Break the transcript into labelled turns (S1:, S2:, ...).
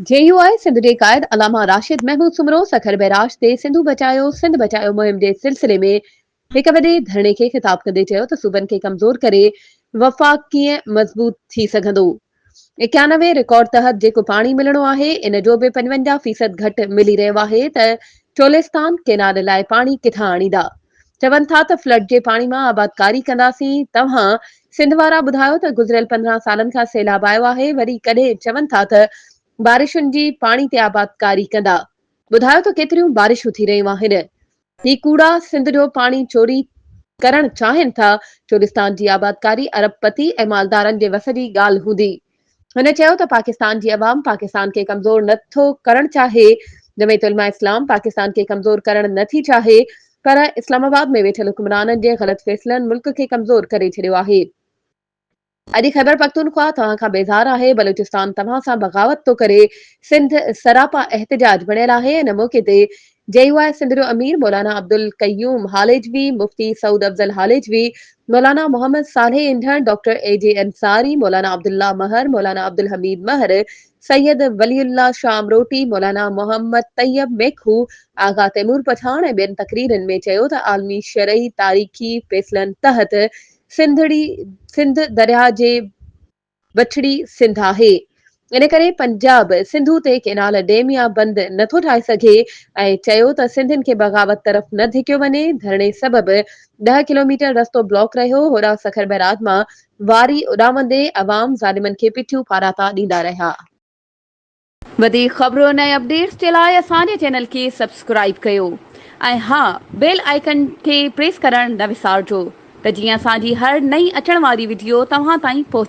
S1: جي U I Sindh جي قائد علامه راشد محمود سومرو سکر بئراج تي سنڌو بچايو سنڌ بچايو مهم جي سلسلي ۾ هڪ وڏي ڌرڻي کي خطاب ڪندي چيو ته صوبن کي ڪمزور ڪري وفاق ڪيئن مضبوط ٿي سگهندو اڪيانوي رڪارڊ تحت جيڪو پاڻي ملڻو آهي ان جو به پنجونجاهه فيصد گهٽ ملي رهيو آهي ته چولستان ڪينال لاء پاڻي ڪٿان آڻيندا چون ٿا ته فلڊ جي پاڻي مان آبادڪاري ڪنداسين، توهان سنڌ وارا ٻڌايو ته گذريل پندرهن سالن کان سيلاب آيو آهي، وري ڪڏهن چون ٿا ته بارشن جي پاڻي تي آبادڪاري ڪندا، ٻڌايو ته ڪيتريون بارشون ٿي رهيون آهن، هي ڪوڙا سنڌ جو پاڻي چوري ڪرڻ چاهين ٿا، چولستان جي آبادڪاري ارب پتي ۽ مالدارن جي وس جي ڳالهه هوندي. هن چيو ته پاڪستان جي عوام پاڪستان کي ڪمزور نه ٿو ڪرڻ چاهي، جمعيت علماء اسلام پاڪستان کي ڪمزور ڪرڻ نه ٿي چاهي پر اسلام آباد ۾ ويٺل حڪمرانن جي غلط فيصلن ملڪ کي ڪمزور ڪري ڇڏيو آهي. اڄ خيبرپختونخوا توهان کان بيزار آهي، بلوچستان توهان سان بغاوت ٿو ڪري، سنڌ سراپا احتجاج بڻيل آهي، ان موقعي تي جي يو آء سنڌ جو امير مولانا عبدالقيوم هاليجوي، مفتي سعود افضل هاليجوي، مولانا Muhammad Saleh انڍڻ، doctor A G Ansari, Maulana Abdullah مهر، مولانا عبدالحميد مهر، سيد ولي الله شاهه امروٽي، مولانا محمد طيب ميخو، آغا تيمور پٺاڻ ۽ ٻين تقريرن ۾ چيو ته عالمي شرعي تاريخي فيصلن تحت سنڌڙي سنڌ درياهه جي وٺڙي سنڌ آهي، ان ڪري پنجاب سنڌو تي ڪينال، ڊيم يا بند نه ٿو ٺاهي سگهي ۽ چيو ته سنڌين کي بغاوت طرف نه ڌڪيو وڃي، ڌرڻي سبب ڏهه ڪلوميٽر رستو بلاڪ رهيو، هوڏانهن سکر بئراج مان واري اڏامندي عوام ظالمن کي پٺيون ڦاراتا ڏيندا رهيا. وڌيڪ خبرن ۽ اپڊيٽس جي لاء اسان جي چينل کي سبسڪرائيب ڪيو ۽ ها بيل آئيڪن کي پريس ڪرڻ نه وسارجو ته جيئن اسان جي هر نئين اچڻ واري وڊيو توهان تائين پهچي.